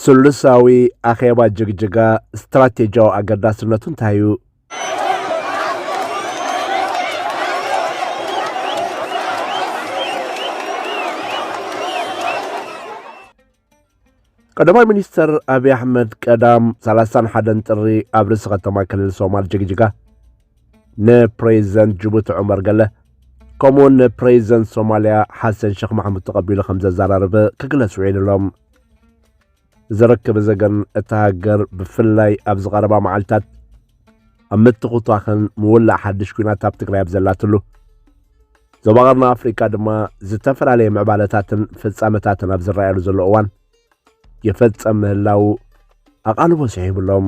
ስሉሳዊ ኣኼባ ጅግጅጋ ስትራቴጂያዊ ኣገዳስነቱ እንታይ እዩ? ቀዳማይ ሚኒስትር ኣብዪ ኣሕመድ ቀዳም 31 ጥሪ ኣብ ርእሲ ከተማ ክልል ሶማል ጅግጅጋ ንፕሬዚደንት ጅቡቲ ዑመር ገለ ከምኡውን ንፕሬዚደንት ሶማልያ ሓሰን ሸክ ማሕሙድ ተቐቢሉ ከም ዘዘራርብ ክግለጽ ውዒሉ ኣሎ። ዘረከበ ዘገን እታ ሃገር ብፍላይ ኣብዚ ቀረባ መዓልታት ኣብ ምትኹቷኽን ምውላዕ ሓድሽ ኩናት ኣብ ትግራይ ኣብ ዘላትሉ ዞባ ቀርኒ ኣፍሪካ ድማ ዝተፈላለየ ምዕባለታትን ፍጻመታትን ኣብ ዝረኣየሉ ዘሎ እዋን የፈጸም ምህላው ኣቓልቦ ስሒብሎም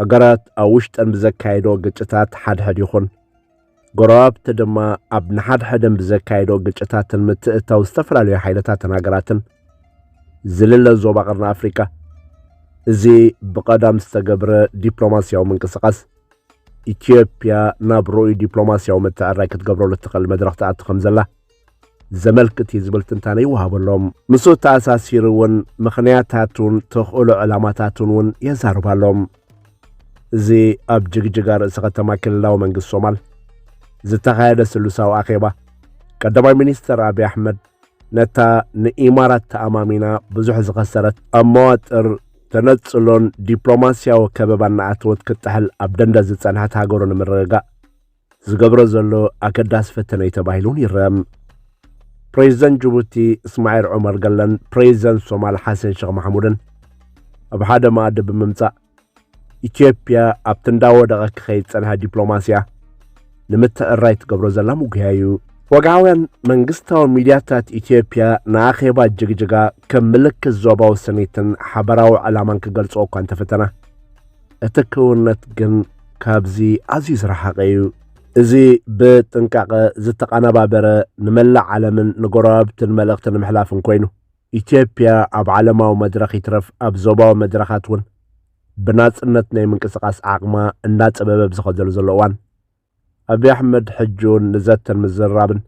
ሃገራት ኣብ ውሽጠን ብዘካይዶ ግጭታት ሓድሕድ ይኹን ጎረባብቲ ድማ ኣብ ንሓድሕደን ብዘካይዶ ግጭታትን ምትእታው ዝተፈላለዩ ሓይልታትን ሃገራትን ዝልለ ዞባ ቀርኒ ኣፍሪካ እዚ ብቐዳም ዝተገብረ ዲፕሎማስያዊ ምንቅስቓስ ኢትዮጵያ ናብ ርኡይ ዲፕሎማስያዊ ምትዕራይ ክትገብረሉ እትኽእል መድረኽ ትኣቲ ከም ዘላ ዘመልክት እዩ ዝብል ትንታነ ይወሃበሎም ምስኡ ተኣሳሲሩ እውን ምኽንያታቱን ተኽእሎ ዕላማታቱን እውን የዛርባሎም እዚ ኣብ ጅግጅጋ ርእሲ ከተማ ክልላዊ መንግስቲ ሶማል ዝተኻየደ ስሉሳዊ ኣኼባ ቀዳማይ ሚኒስትር ኣብዪ ኣሕመድ ነታ ንኢማራት ተኣማሚና ብዙሕ ዝኸሰረት ኣብ መዋጥር ተነጽሎን ዲፕሎማስያዊ ከበባ እናኣተወት ክጥሕል ኣብ ደንደ ዝጸንሐት ሃገሩ ንምርግጋእ ዝገብሮ ዘሎ ኣገዳሲ ፈተነ እዩ ተባሂሉን ይረም ፕሬዚደንት ጅቡቲ እስማዒል ዑመር ገለን ፕሬዚደንት ሶማል ሓሰን ሸኽ ማሕሙድን ኣብ ሓደ መኣዲ ብምምጻእ ኢትዮጵያ ኣብቲ እንዳወደቐ ክኸይድ ጸንሐ ዲፕሎማስያ ንምትዕራይ ትገብሮ ዘላ ምጉያ እዩ ወግዓውያን መንግስታዊ ሚድያታት ኢትዮጵያ ንኣኼባ ጅግጅጋ ከም ምልክት ዞባዊ ስኒትን ሓበራዊ ዕላማን ክገልጾ እኳ እንተፈተና እቲ ክውነት ግን ካብዚ ኣዝዩ ዝረሓቐ እዩ። እዚ ብጥንቃቐ ዝተቐነባበረ ንመላእ ዓለምን ንጎረባብትን መልእኽቲ ንምሕላፍን ኮይኑ፣ ኢትዮጵያ ኣብ ዓለማዊ መድረኽ ይትረፍ ኣብ ዞባዊ መድረኻት እውን ብናጽነት ናይ ምንቅስቓስ ዓቕማ እንዳጸበበ ብዝኸደሉ ዘሎ እዋን፣ ኣብይ ኣሕመድ ሕጂውን ንዘተን ምዝርራብን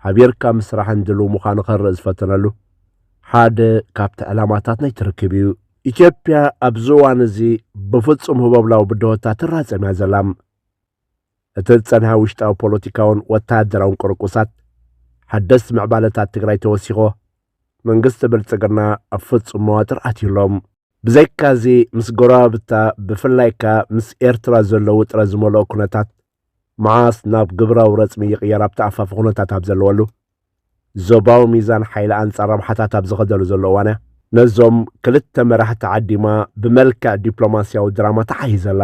ሓቢርካ ምስራሕን ድሉው ምዃኑ ከርኢ ዝፈተነሉ ሓደ ካብቲ ዕላማታት ናይቲ ርክብ እዩ። ኢትዮጵያ ኣብዚ እዋን እዚ ብፍጹም ህቦብላዊ ብድሆታት ትራጸም እያ ዘላ። እቲ ዝጸንሐ ውሽጣዊ ፖለቲካውን ወተሃደራውን ቁርቁሳት፣ ሓደስቲ ምዕባለታት ትግራይ ተወሲኾ፣ መንግስቲ ብልጽግና ኣብ ፍጹም መዋጥር ኣትዩ ኣሎ። ብዘይካዚ ምስ ጎረባብታ ብፍላይ ከኣ ምስ ኤርትራ ዘሎ ውጥረት ዝመልኦ ኩነታት መዓስ ናብ ግብራዊ ረጽሚ ይቕየር ኣብ ተኣፋፊ ኩነታት ኣብ ዘለወሉ፣ ዞባዊ ሚዛን ሓይሊ ኣንጻር ረብሓታት ኣብ ዝኸደሉ ዘሎ እዋን'ያ። ነዞም ክልተ መራሕቲ ዓዲማ ብመልክዕ ዲፕሎማስያዊ ድራማ ተሓሂዘላ።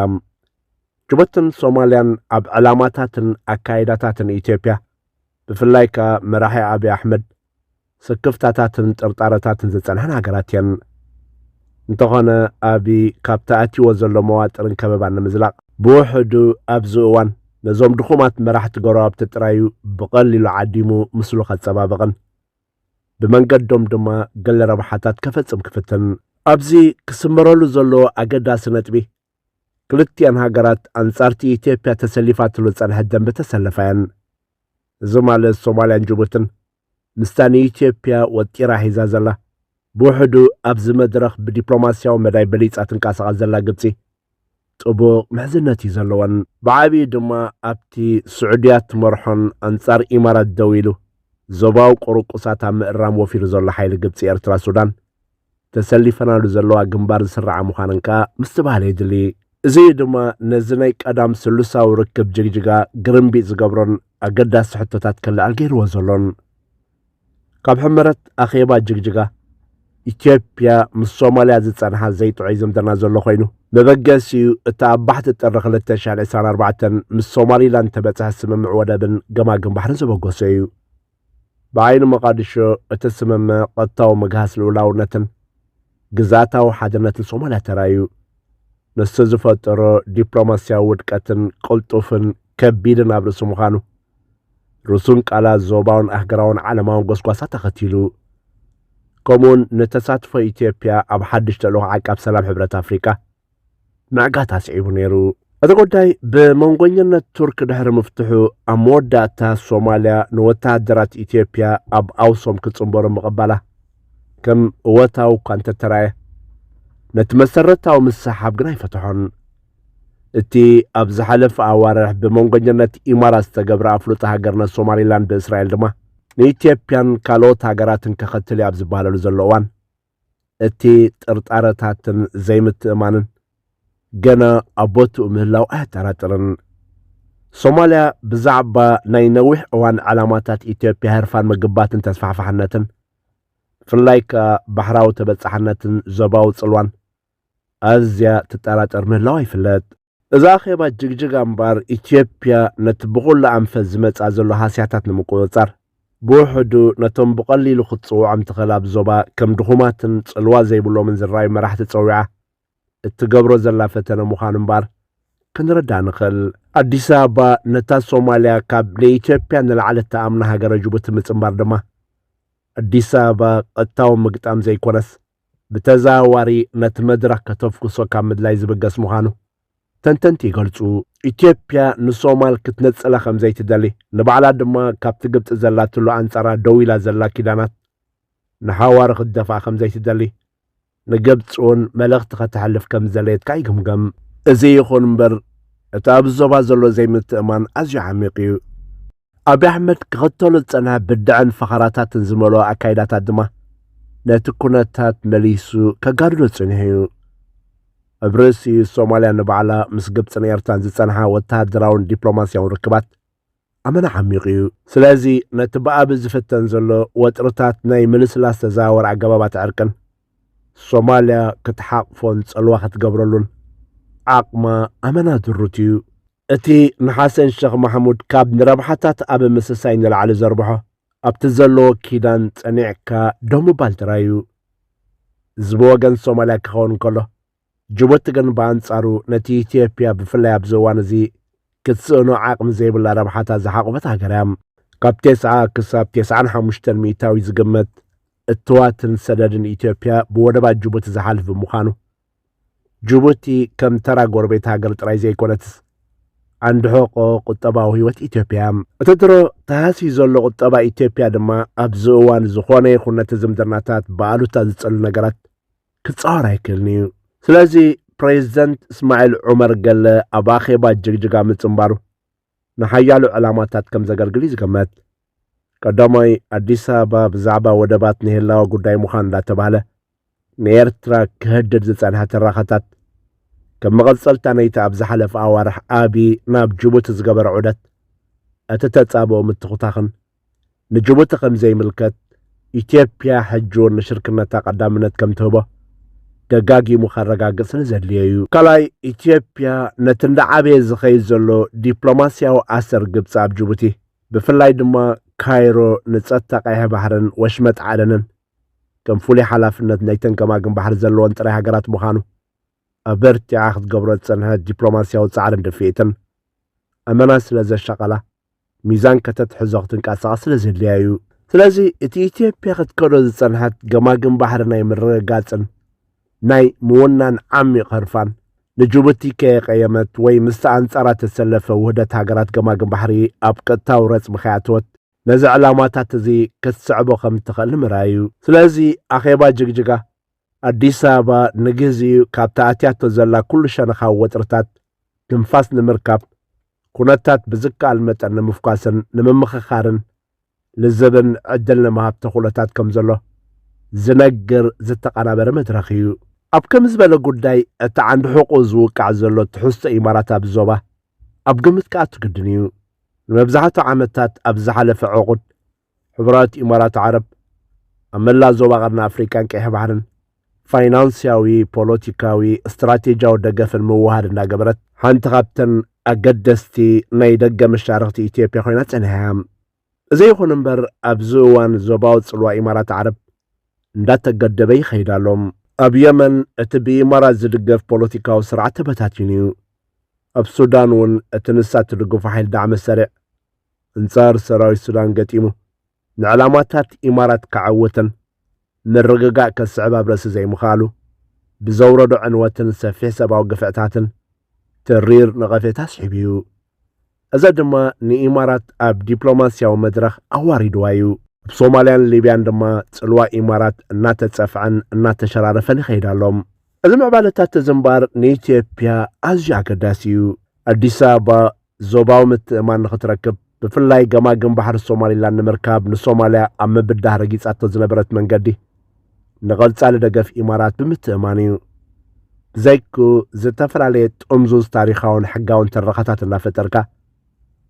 ጅቡትን ሶማልያን ኣብ ዕላማታትን ኣካይዳታትን ኢትዮጵያ ብፍላይ ከኣ መራሒ ኣብይ ኣሕመድ ስክፍታታትን ጥርጣረታትን ዝጸንሐን ሃገራት እየን። እንተኾነ ኣብይ ካብ ተኣትዩዎ ዘሎ መዋጥርን ከበባን ንምዝላቕ፣ ብውሕዱ ኣብዚ እዋን ነዞም ድኹማት መራሕቲ ጎረባብቲ ጥራይ'ዩ ብቐሊሉ ዓዲሙ ምስሉ ከጸባብቕን ብመንገዶም ድማ ገለ ረብሓታት ከፈጽም ክፍትን። ኣብዚ ክስመረሉ ዘለዎ ኣገዳሲ ነጥቢ፣ ክልቲኣን ሃገራት ኣንጻርቲ ኢትዮጵያ ተሰሊፋትሉ ዝጸንሐት ደምበ ተሰለፋ እየን። እዚ ማለት ሶማልያን ጅቡትን ምስታ ንኢትዮጵያ ወጢራ ሒዛ ዘላ ብውሕዱ ኣብዚ መድረኽ ብዲፕሎማስያዊ መዳይ በሊጻ ትንቀሳቐስ ዘላ ግብጺ ጥቡቕ ምሕዝነት እዩ ዘለወን። ብዓብዩ ድማ ኣብቲ ስዑድያ እትመርሖን ኣንጻር ኢማራት ደው ኢሉ ዞባዊ ቁርቁሳት ኣብ ምእራም ወፊሩ ዘሎ ሓይሊ ግብጺ-ኤርትራ-ሱዳን ተሰሊፈናሉ ዘለዋ ግንባር ዝስርዓ ምዃነን ከኣ ምስትብሃል የድሊ። እዚ እዩ ድማ ነዚ ናይ ቀዳም ስሉሳዊ ርክብ ጅግጅጋ ግርምቢጥ ዝገብሮን ኣገዳሲ ሕቶታት ከለዓል ገይርዎ ዘሎን። ካብ ሕመረት ኣኼባ ጅግጅጋ፣ ኢትዮጵያ ምስ ሶማልያ ዝጸንሓ ዘይጥዑይ ዝምድና ዘሎ ኮይኑ፣ መበገሲኡ እቲ ኣብ ባሕቲ ጥሪ ክልተ ሽሕን ዕስራን ኣርባዕተን ምስ ሶማሊላንድ ተበጽሐ ስምምዕ ወደብን ገማግም ባሕርን ዘበገሶ እዩ። ብዓይኒ ሞቓድሾ እቲ ስምምዕ ቐጥታዊ ምግሃስ ልኡላውነትን ግዝኣታዊ ሓድነትን ሶማልያ ተራእዩ። ንሱ ዝፈጠሮ ዲፕሎማስያዊ ውድቀትን ቅልጡፍን ከቢድን ኣብ ርእሲ ምዃኑ፣ ርሱን ቃላት ዞባውን ኣህገራውን ዓለማውን ጎስጓሳት ኣኸቲሉ። ከምኡውን ንተሳትፎ ኢትዮጵያ ኣብ ሓድሽ ተልእኾ ዓቃብ ሰላም ሕብረት ኣፍሪቃ፣ ምዕጋት ኣስዒቡ ነይሩ። እቲ ጉዳይ ብመንጎኝነት ቱርክ ድሕሪ ምፍትሑ ኣብ መወዳእታ ሶማልያ ንወተሃደራት ኢትዮጵያ ኣብ ኣውሶም ክጽንበሩ ምቕባላ ከም እወታዊ እኳ እንተተራየ ነቲ መሰረታዊ ምስሓብ ግን ኣይፈትሖን። እቲ ኣብ ዝሓለፈ ኣዋርሕ ብመንጎኝነት ኢማራት ዝተገብረ ኣፍልጦ ሃገርነት ሶማሊላንድ ብእስራኤል ድማ ንኢትዮጵያን ካልኦት ሃገራትን ከኸትል እዩ ኣብ ዝበሃለሉ ዘሎ እዋን እቲ ጥርጣረታትን ዘይምትእማንን ገና ኣብ ቦትኡ ምህላው ኣየጠራጥርን። ሶማልያ ብዛዕባ ናይ ነዊሕ እዋን ዕላማታት ኢትዮጵያ ህርፋን ምግባትን ተስፋሕፋሕነትን ብፍላይ ከኣ ባሕራዊ ተበጻሕነትን ዞባዊ ጽልዋን ኣዝያ ትጠራጠር ምህላዋ ይፍለጥ። እዛ ኣኼባ ጅግጅጋ እምበኣር ኢትዮጵያ ነቲ ብኹሉ ኣንፈት ዝመጽኣ ዘሎ ሃስያታት ንምቁጽጻር ብውሕዱ ነቶም ብቐሊሉ ክትጽውዖም ትኽእል ኣብ ዞባ ከም ድኹማትን ጽልዋ ዘይብሎምን ዝረኣዩ መራሕቲ ጸዊዓ እትገብሮ ዘላ ፈተነ ምዃኑ እምበኣር ክንርዳእ ንኽእል። ኣዲስ ኣበባ ነታ ሶማልያ ካብ ንኢትዮጵያ ንላዕሊ እትኣምና ሃገረ ጅቡቲ ምጽንባር ድማ ኣዲስ ኣበባ ቀጥታዊ ምግጣም ዘይኮነስ ብተዘዋዋሪ ነቲ መድረኽ ከተፍኩሶ ካብ ምድላይ ዝብገስ ምዃኑ ተንተንቲ ይገልጹ። ኢትዮጵያ ንሶማል ክትነጽላ ከም ዘይትደሊ፣ ንባዕላ ድማ ካብቲ ግብጺ ዘላትሉ ኣንጻራ ደው ኢላ ዘላ ኪዳናት ንሓዋሩ ክትደፍኣ ከም ዘይትደሊ ንግብጺ'ውን መልእኽቲ ከተሕልፍ ከም ዝደለየት ከኣ ይግምገም። እዚ ይኹን እምበር እቲ ኣብዚ ዞባ ዘሎ ዘይምትእምማን ኣዝዩ ዓሚቕ እዩ። ኣብይ ኣሕመድ ክኽተሎ ዝጸንሐ ብድዐን ፈኸራታትን ዝመልኦ ኣካይዳታት ድማ ነቲ ኩነታት መሊሱ ከጋድዶ ጸኒሑ'ዩ። ኣብ ርእሲ'ዩ ሶማልያ ንባዕላ ምስ ግብጽን ኤርትራን ዝጸንሓ ወተሃደራውን ዲፕሎማስያውን ርክባት ኣመና ዓሚቝ'ዩ። ስለዚ ነቲ ብኣብይ ዝፍተን ዘሎ ወጥርታት ናይ ምልስላስ ተዘዋዋሪ ኣገባባት ዕርቅን ሶማልያ ክትሓቕፎን ጸልዋ ክትገብረሉን ዓቕማ ኣመና ድሩት'ዩ። እቲ ንሓሰን ሸኽ ማሕሙድ ካብ ንረብሓታት ኣብ ምስሳይ ንላዕሊ ዘርብሖ፣ ኣብቲ ዘለዎ ኪዳን ጸኒዕካ ደው ምባል ጥራይ እዩ። እዚ ብወገን ሶማልያ ክኸውን እንከሎ፣ ጅቡቲ ግን ብኣንጻሩ ነቲ ኢትዮጵያ ብፍላይ ኣብዚ እዋን እዚ ክትስእኖ ዓቕሚ ዘይብላ ረብሓታት ዝሓቖፈት ሃገር እያ። ካብ ቴስዓ ክሳብ ቴስዓን ሓሙሽተን ሚእታዊ ዝግመት እትዋትን ሰደድን ኢትዮጵያ ብወደባት ጅቡቲ ዝሓልፍ ብምዃኑ፣ ጅቡቲ ከም ተራ ጎረቤት ሃገር ጥራይ ዘይኮነትስ ዓንዲ ሕቖ ቁጠባዊ ህይወት ኢትዮጵያ እያ። እቲ ድሮ ተሃስዩ ዘሎ ቁጠባ ኢትዮጵያ ድማ ኣብዚ እዋን ዝኾነ ይኹን ነቲ ዝምድናታት ብኣሉታ ዝጸሉ ነገራት ክጻወር ኣይክእልን እዩ። ስለዚ ፕሬዚደንት እስማዒል ዑመር ገለ ኣብ ኣኼባ ጅግጅጋ ምጽንባሩ ንሓያሎ ዕላማታት ከም ዘገልግል እዩ ዝገመት። ቀዳማይ ኣዲስ ኣበባ ብዛዕባ ወደባት ናይ ህላወ ጉዳይ ምዃን እንዳተባህለ ንኤርትራ ክህድድ ዝጸንሐ ትራኸታት ከም መቐጸልታ ናይቲ ኣብ ዝሓለፈ ኣዋርሕ ኣብዪ ናብ ጅቡቲ ዝገበረ ዑደት እቲ ተጻብኦ ምትኹታኽን ንጅቡቲ ከም ዘይምልከት፣ ኢትዮጵያ ሕጂውን ንሽርክነታ ቀዳምነት ከም ትህቦ ደጋጊሙ ከረጋግጽ ንዘድልዮ'ዩ። ካልኣይ፣ ኢትዮጵያ ነቲ እንዳዓበየ ዝኸይድ ዘሎ ዲፕሎማስያዊ ኣሰር ግብጺ ኣብ ጅቡቲ፣ ብፍላይ ድማ ካይሮ ንጸጥታ ቀይሕ ባሕርን ወሽመጥ ዓደንን ከም ፍሉይ ሓላፍነት ናይተን ገማግም ባሕሪ ዘለወን ጥራይ ሃገራት ምዃኑ ኣበርቲዓ ክትገብሮ ዝጸንሐት ዲፕሎማስያዊ ጻዕርን ድፍኢትን ኣመና ስለ ዘሻቐላ፣ ሚዛን ከተትሕዞ ክትንቀሳቐስ ስለ ዘድልያ እዩ። ስለዚ እቲ ኢትዮጵያ ክትከዶ ዝጸንሐት ገማግም ባሕሪ ናይ ምርግጋጽን ናይ ምውናን ዓሚቕ ህርፋን፣ ንጅቡቲ ከየቐየመት ወይ ምስታ ኣንጻራ እተሰለፈ ውህደት ሃገራት ገማግም ባሕሪ ኣብ ቀጥታዊ ረጽሚ ከይኣተወት፣ ነዚ ዕላማታት እዚ ክትስዕቦ ከም እትኽእል ንምርኣይ እዩ። ስለዚ ኣኼባ ጅግጅጋ ኣዲስ ኣበባ ንግዜኡ ካብታ ኣትያቶ ዘላ ኩሉ ሸነኻዊ ወጥርታት ትንፋስ ንምርካብ ኩነታት ብዝከኣል መጠን ንምፍኳስን ንምምኽኻርን ልዝብን ዕድል ንምሃብ ተኽእሎታት ከም ዘሎ ዝነግር ዝተቐናበረ መድረኽ እዩ። ኣብ ከምዚ ዝበለ ጉዳይ እቲ ዓንዲ ሕቑኡ ዝውቃዕ ዘሎ ትሕዝቶ ኢማራት ኣብዚ ዞባ ኣብ ግምት ክኣቱ ግድን እዩ። ንመብዛሕትኡ ዓመታት ኣብዚ ዝሓለፈ ዕቑድ ሕቡራት ኢማራት ዓረብ ኣብ መላእ ዞባ ቀርኒ ኣፍሪቃን ቀይሕ ባሕርን ፋይናንስያዊ፣ ፖለቲካዊ፣ ስትራቴጂያዊ ደገፍን ምውህሃድ እንዳገበረት ሓንቲ ካብተን ኣገደስቲ ናይ ደገ መሻርኽቲ ኢትዮጵያ ኮይና ጸኒሓ እያ። እዚ ይኹን እምበር ኣብዚ እዋን ዞባዊ ጽልዋ ኢማራት ዓረብ እንዳተገደበ ይኸይድ ኣሎ። ኣብ የመን እቲ ብኢማራት ዝድገፍ ፖለቲካዊ ስርዓት ተበታቲኑ እዩ። ኣብ ሱዳን እውን እቲ ንሳ እትድግፎ ሓይሊ ዳዕመ ሰሪዕ እንጻር ሰራዊት ሱዳን ገጢሙ ንዕላማታት ኢማራት ከዐወተን ምርግጋእ ከስዕብ ኣብ ርእሲ ዘይምኽኣሉ ብዘውረዶ ዕንወትን ሰፊሕ ሰብኣዊ ግፍዕታትን ተሪር ነቐፌታ ኣስዒቡ'ዩ። እዚ ድማ ንኢማራት ኣብ ዲፕሎማስያዊ መድረኽ ኣዋሪድዋ እዩ። ኣብ ሶማልያን ሊብያን ድማ ጽልዋ ኢማራት እናተጸፍዐን እናተሸራረፈን ይኸይድ ኣሎ። እዚ ምዕባለታት እዚ እምበኣር ንኢትዮጵያ ኣዝዩ ኣገዳሲ እዩ። ኣዲስ ኣበባ ዞባዊ ምትእምማን ንኽትረክብ፣ ብፍላይ ገማግም ባሕሪ ሶማሊላንድ ንምርካብ ንሶማልያ ኣብ ምብዳህ ረጊጻቶ ዝነበረት መንገዲ፣ ንቐጻሊ ደገፍ ኢማራት ብምትእምማን እዩ። ብዘይክኡ፣ ዝተፈላለየ ጥምዙዝ ታሪኻውን ሕጋውን ትረኻታት እናፈጠርካ፣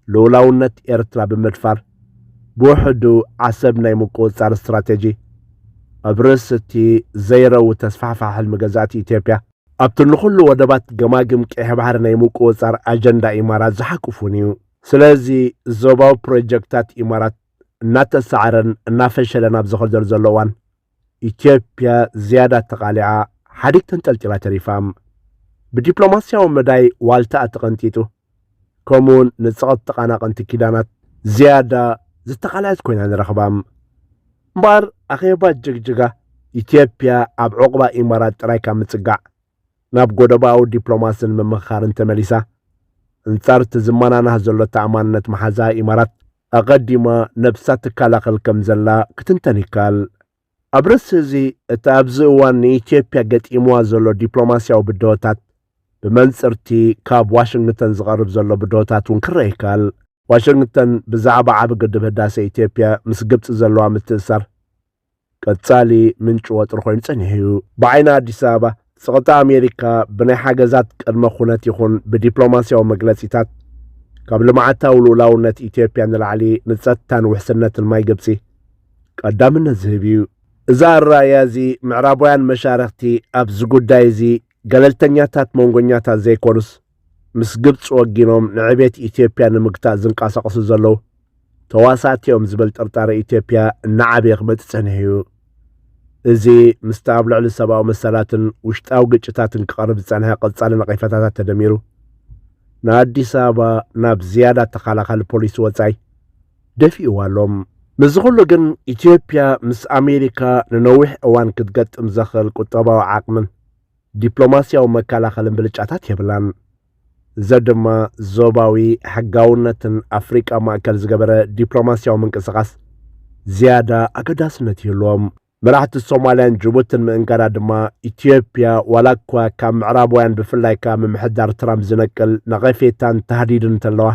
ልኡላውነት ኤርትራ ብምድፋር፣ ብውሕዱ ዓሰብ ናይ ምቁጽጻር ስትራቴጂ፣ ኣብ ርእሲ'ቲ ዘይረዊ ተስፋሕፋሒ ሕልሚ ገዛእቲ ኢትዮጵያ፣ ኣብቲ ንኹሉ ወደባት ገማግም ቀይሕ ባሕሪ ናይ ምቁጽጻር ኣጀንዳ ኢማራት ዝሓቁፉን እዩ። ስለዚ ዞባዊ ፕሮጀክታት ኢማራት እናተሳዕረን እናፈሸለን ኣብ ዝኸደሉ ዘሎ እዋን ኢትዮጵያ ዝያዳ ተቓሊዓ ሓዲግ ተንጠልጢላ ተሪፋ። ብዲፕሎማስያዊ መዳይ ዋልታኣ ተቐንጢጡ። ከምኡውን ንጸቕቲ ተቓናቐንቲ ኪዳናት ዝያዳ ዝተቓልዐት ኮይና ንረኽባ። እምበኣር ኣኼባ ጅግጅጋ፣ ኢትዮጵያ ኣብ ዑቕባ ኢማራት ጥራይ ካብ ምጽጋዕ፣ ናብ ጎደቦኣዊ ዲፕሎማስን ምምኽኻርን ተመሊሳ፣ ኣንጻር እቲ ዝመናናህ ዘሎ ተኣማንነት መሓዛኣ ኢማራት፣ ኣቐዲማ ነብሳ ትከላኸል ከም ዘላ ክትንተን ይከኣል። ኣብ ርእሲ'ዚ እቲ ኣብዚ እዋን ንኢትዮጵያ ገጢምዋ ዘሎ ዲፕሎማስያዊ ብድሆታት ብመንጽር'ቲ ካብ ዋሽንግተን ዝቐርብ ዘሎ ብድሆታት'ውን ክረኣ ይከኣል። ዋሽንግተን ብዛዕባ ዓቢ ግድብ ህዳሰ ኢትዮጵያ ምስ ግብጺ ዘለዋ ምትእስሳር ቀጻሊ ምንጪ ወጥሪ ኮይኑ ጸኒሑ'ዩ። ብዓይኒ ኣዲስ ኣበባ ጸቕጢ ኣሜሪካ ብናይ ሓገዛት ቅድመ ኩነት ይኹን ብዲፕሎማስያዊ መግለጺታት ካብ ልምዓታዊ ልኡላውነት ኢትዮጵያ ንላዕሊ ንጸጥታን ውሕስነትን ማይ ግብጺ ቀዳምነት ዝህብ እዩ። እዚ ኣረኣእያ እዚ ምዕራባውያን መሻርኽቲ ኣብዚ ጉዳይ እዚ ገለልተኛታት መንጎኛታት ዘይኮኑስ ምስ ግብፂ ወጊኖም ንዕቤት ኢትዮጵያ ንምግታእ ዝንቀሳቐሱ ዘለዉ ተዋሳእቲ እዮም ዝብል ጥርጣረ ኢትዮጵያ እናዓበየ ክመፅእ ፀኒሑ እዩ። እዚ ምስቲ ኣብ ልዕሊ ሰብኣዊ መሰላትን ውሽጣዊ ግጭታትን ክቐርብ ዝፀንሐ ቀፃሊ ነቒፈታታት ተደሚሩ ንኣዲስ ኣበባ ናብ ዝያዳ ተኸላኻሊ ፖሊሲ ወፃኢ ደፊእዋ ኣሎ። ምስዚ ኩሉ ግን ኢትዮጵያ ምስ ኣሜሪካ ንነዊሕ እዋን ክትገጥም ዘኽእል ቁጠባዊ ዓቕምን ዲፕሎማስያዊ መከላኸልን ብልጫታት የብላን። እዚ ድማ ዞባዊ ሕጋውነትን ኣፍሪቃ ማእከል ዝገበረ ዲፕሎማስያዊ ምንቅስቓስ ዝያዳ ኣገዳስነት ይህልዎም። መራሕቲ ሶማልያን ጅቡትን ምእንጋዳ ድማ ኢትዮጵያ ዋላ እኳ ካብ ምዕራባውያን ብፍላይ ካብ ምምሕዳር ትራምፕ ዝነቅል ነቐፌታን ታህዲድን እንተለዋ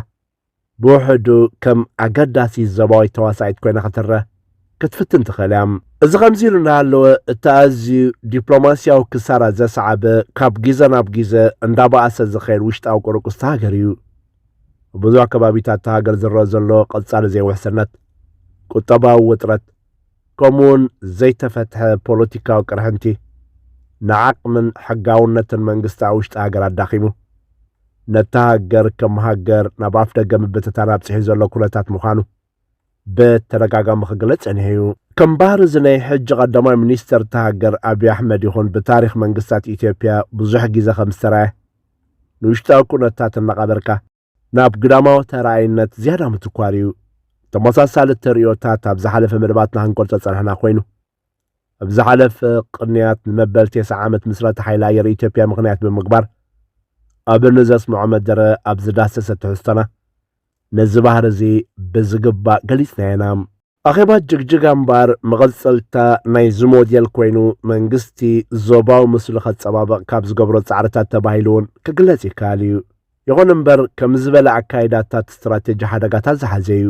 ብውሕዱ ከም ኣገዳሲት ዞባዊት ተዋሳኢት ኮይና ክትረኣ ክትፍትን ትኽእል እያ። እዚ ከምዚ ኢሉ እናሃለወ እቲ ኣዝዩ ዲፕሎማስያዊ ክሳራ ዘስዓበ ካብ ግዘ ናብ ግዘ እንዳበኣሰ ዝኸይድ ውሽጣዊ ቁርቁስ እታ ሃገር እዩ። ኣብ ብዙሕ ከባቢታት እታ ሃገር ዝረኣ ዘሎ ቀጻሊ ዘይውሕስነት፣ ቁጠባዊ ውጥረት፣ ከምኡ'ውን ዘይተፈትሐ ፖለቲካዊ ቅርሕንቲ ንዓቕምን ሕጋውነትን መንግስቲ ኣብ ውሽጢ ሃገር ኣዳኺሙ። ነታ ሃገር ከም ሃገር ናብ ኣፍ ደገ ምብትታን ኣብፅሒ ዘሎ ኩነታት ምዃኑ ብተደጋጋሚ ክግለጽ ጸኒሑ እዩ። ከም ባህሪ እዚ ናይ ሕጂ ቀዳማይ ሚኒስተር እታ ሃገር ኣብዪ ኣሕመድ ይኹን ብታሪኽ መንግስታት ኢትዮጵያ ብዙሕ ግዜ ከም ዝተራእየ ንውሽጣዊ ኩነታት እናቐበርካ ናብ ግዳማዊ ተራኣይነት ዝያዳ ምትኳር እዩ። ተመሳሳሊ ተርእዮታት ኣብ ዝሓለፈ መደባትና ክንገልጾ ዝጸናሕና ኮይኑ ኣብ ዝሓለፈ ቅንያት ንመበል ቴስዓ ዓመት ምስረታ ሓይሊ ኣየር ኢትዮጵያ ምኽንያት ብምግባር ኣብ ንዘስምዖ መደረ ኣብ ዝዳሰሰ ትሕዝቶና ነዚ ባህሪ እዚ ብዝግባእ ገሊጽናዮ ኢና። ኣኼባ ጅግጅጋ እምበኣር መቐጸልታ ናይዚ ሞዴል ኮይኑ መንግስቲ ዞባዊ ምስሉ ከጸባብቕ ካብ ዝገብሮ ጻዕርታት ተባሂሉ'ውን ክግለጽ ይከኣል እዩ። ይኹን እምበር ከምዚ ዝበለ ኣካይዳታት ስትራቴጂ ሓደጋታት ዝሓዘ እዩ።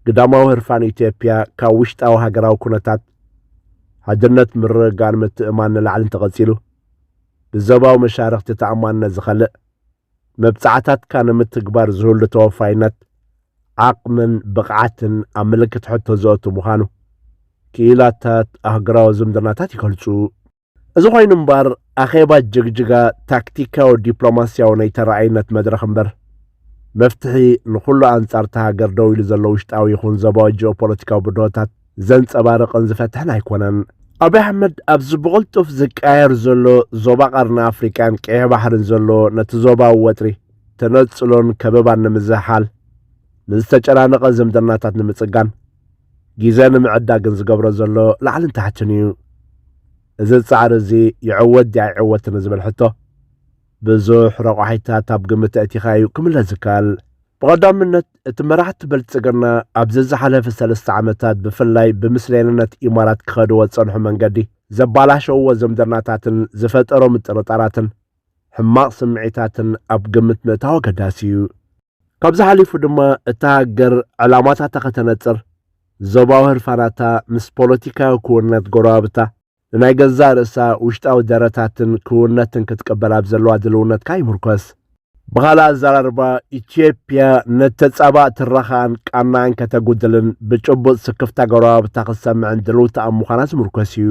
ግዳማዊ ህርፋን ኢትዮጵያ ካብ ውሽጣዊ ሃገራዊ ኩነታት ሓድነት ምርግጋእን ምትእማን ንላዕሊ እንተቐጺሉ ብዞባዊ መሻርኽቲ ተኣማንነት ዝኸልእ መብጻዕታትካ ንምትግባር ዝህሉ ተወፋይነት ዓቕምን ብቕዓትን ኣብ ምልክት ሕቶ ዘእቱ ምዃኑ ክኢላታት ኣህግራዊ ዝምድናታት ይገልጹ። እዚ ኮይኑ እምበር ኣኼባ ጅግጅጋ ታክቲካዊ ዲፕሎማስያዊ ናይ ተራኣይነት መድረኽ እምበር መፍትሒ ንኹሉ ኣንጻር እታ ሃገር ደው ኢሉ ዘሎ ውሽጣዊ ይኹን ዘባዊ ጂኦፖለቲካዊ ብድሆታት ዘንጸባርቕን ዝፈትሕን ኣይኮነን። ኣብይ ኣሕመድ ኣብዚ ብቕልጡፍ ዝቀያየር ዘሎ ዞባ ቀርኒ ኣፍሪቃን ቀይሕ ባሕርን ዘሎ ነቲ ዞባዊ ወጥሪ ተነጽሎን ከበባን ንምዝሕሓል ንዝተጨናነቐ ዝምድናታት ንምጽጋን ጊዘ ንምዕዳግን ዝገብሮ ዘሎ ላዕልን ታሕትን እዩ። እዚ ፃዕሪ እዚ ይዕወት ድዩ ኣይዕወትን ንዝብል ሕቶ ብዙሕ ረቋሒታት ኣብ ግምት ኣእቲኻ እዩ ክምለስ ዝከኣል። ብቐዳምነት እቲ መራሕቲ ብልፅግና ኣብዚ ዝሓለፈ ሰለስተ ዓመታት ብፍላይ ብምስሌንነት ኢማራት ክኸድዎ ዝፀንሑ መንገዲ ዘባላሸውዎ ዝምድናታትን ዝፈጠሮ ምጥርጣራትን፣ ሕማቕ ስምዒታትን ኣብ ግምት ምእታው ኣገዳሲ እዩ። ካብዚ ሓሊፉ ድማ እታ ሃገር ዕላማታታ ከተነጽር፣ ዞባዊ ህርፋናታ ምስ ፖለቲካዊ ክውንነት ጎረባብታ ንናይ ገዛእ ርእሳ ውሽጣዊ ደረታትን ክውንነትን ክትቅበል ኣብ ዘለዋ ድልውነት ከኣ ይምርኮስ። ብኻልእ ኣዘራርባ፣ ኢትዮጵያ ንተጻባእ ትረኻኣን ቃናኣን ከተጉድልን ብጭቡጥ ስክፍታ ጎረባብታ ክትሰምዕን ድልውቲ ኣብ ምዃና ዝምርኮስ እዩ።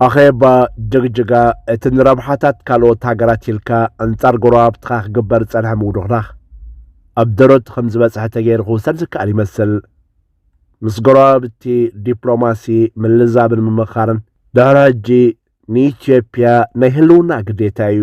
ኣኼባ ጅግጅጋ እቲ ንረብሓታት ካልኦት ሃገራት ኢልካ ኣንጻር ጎረባብትኻ ክግበር ዝጸንሐ ምውድኽዳኽ ኣብ ደረት ከም ዝበጽሐ ተገይሩ ክውሰድ ዝከኣል ይመስል። ምስ ጎረባብቲ ዲፕሎማሲ ምልዛብን ምምኻርን ድሕሪ ሕጂ ንኢትዮጵያ ናይ ህልውና ግዴታ እዩ።